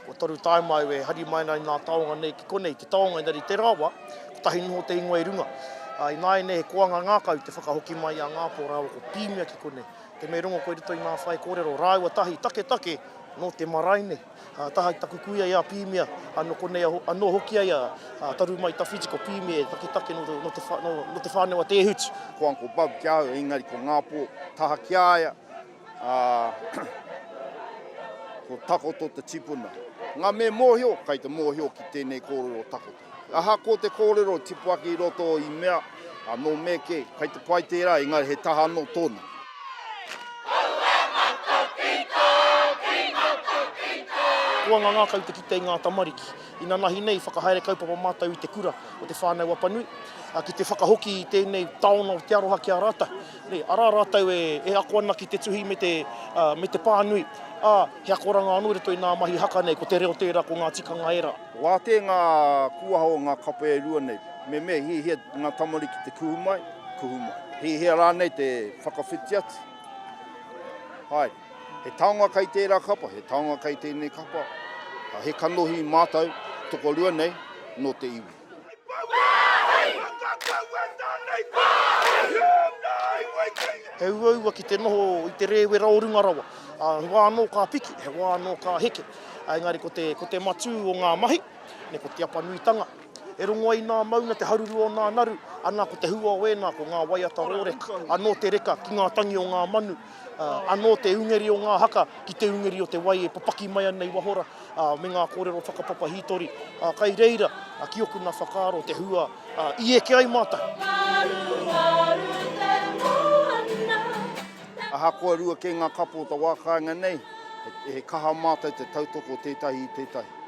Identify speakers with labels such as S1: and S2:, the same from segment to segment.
S1: Kua toru taima au e hari mai ana i nā taonga nei ki konei, te taonga engari i tērā wā, kotahi noho te ingoa i runga. Ā, ināianei he koanga ngākau te whakahoki mai i a Ngāpō rāua ko Pīmia ki konei. Te me rongo koe i roto i ngā whaikōrero rāua tahi taketake nō te marae nei. Ka taha ki taku kuia i a Pīmia, anō konei anō hoki ai a Taru mai tawhiti ko Pīmia e taketake nō te whānau a Te Hutu. Ko Uncle Bug ki a
S2: au, engari ko Ngāpō taha ki a ia, ā, ko Takoto te tipuna. Ngā me mōhio, kei te mōhio ki tēnei kōrero o Takoto. Ahakoa te kōrero tipu ake i roto i mea, nō Meke, kai te pai tērā, engari he taha anō tōna.
S1: Huanga ngākau te kite i ngā tamariki. Inanahi nei, whakahaere kaupapa mātou i te kura o Te Whānau Apanui, ki te whakahoki i tēnei taonga o te aroha ki a rātou. Nei, arā rātou e ako ana ki te tuhi me te, me te pānui, ā, he akoranga anō i roto i nā mahi haka nei, ko te reo tērā, ko ngā tikanga ērā. Wātea ngā
S2: kūaha o ngā kape e rua nei. Me me hihia ngā tamariki te kuhu mai, kuhu mai. Hihia rānei te whakawhiti atu. Haere. He taonga kei tērā kapa, he taonga kei tēnei kapa. He kanohi mātou, tokorua nei, nō te iwi. He uaua ki te noho i te rēwera o runga rawa. He wā anō ka piki, he wā anō ka heke. Engari ko te, ko te matū o ngā mahi, ne, ko te apanuitanga. E rongo ai nā maunga te haruru o nā naru, ana ko te hua o ēnā ko ngā waiata rōreka, anō te reka ki ngā tangi o ngā manu, ā, anō te ungeri o ngā haka ki te ungeri o te wai e papaki mai ana i wahora, ā, me ngā kōrero whakapapa hītori, ā, kai reira, ā, ki oku nā whakaaro te hua, ā, i eke ai mātou. Ngaru, ngaru te moana, Ahakoa rua kē ngā kapo o te wā kāinga nei, he kaha mātou te tautoko tētahi i tētahi.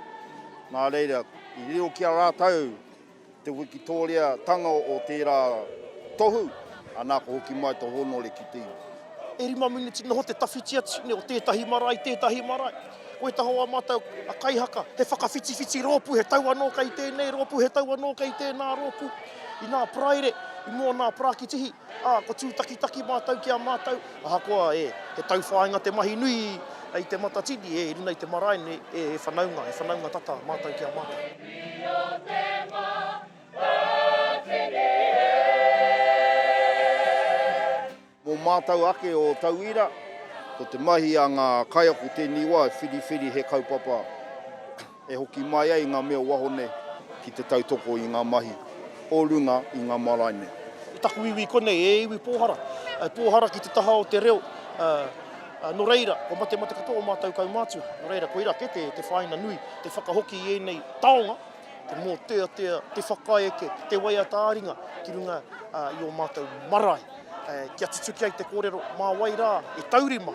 S2: Nā reira, i riro ki a rātou te wikitōriatanga o tērā tohu, anā ka hoki mai te hōnore ki te iwi. E rima miniti
S1: noho te tawhiti atu nei o tētahi marae i tētahi marae. Ko Etaho a mātou a kaihaka, he whakawhitiwhiti rōpū, he tau anō kei tēnei rōpū, he tau anō kei tēnā rōpū. Inā Paraire, i mua o nā Parakitihi, Ā, kua tūtakitaki mātou ki a mātou, ahakoa e, he tauwhāinga te mahi nui i te Matatini, e, i runga i te marae nei, e, he whanaunga, he whanaunga tata mātou ki a mātou.
S2: Mō mātou ake o tauira, ko te mahi a ngā kaiako tēnei wā e whiriwhiri he kaupapa. E hoki mai ai ngā mea o waho nei ki te tautoko i ngā mahi o runga i ngā marae nei. I taku iwi
S1: konei, e iwi pōhara, e pōhara ki te taha o te reo, ā, nō reira, kua matemate katoa ō mātou kaumātua. Nō reira, koirā kē te, te whāina nui, te whakahoki i ēnei taonga, te mōteatea, te whakaeke, te waiata ā-ringa ki runga i ō mātou marae, ā, kia tutuki ai te kōrero, mā wai rā e taurima.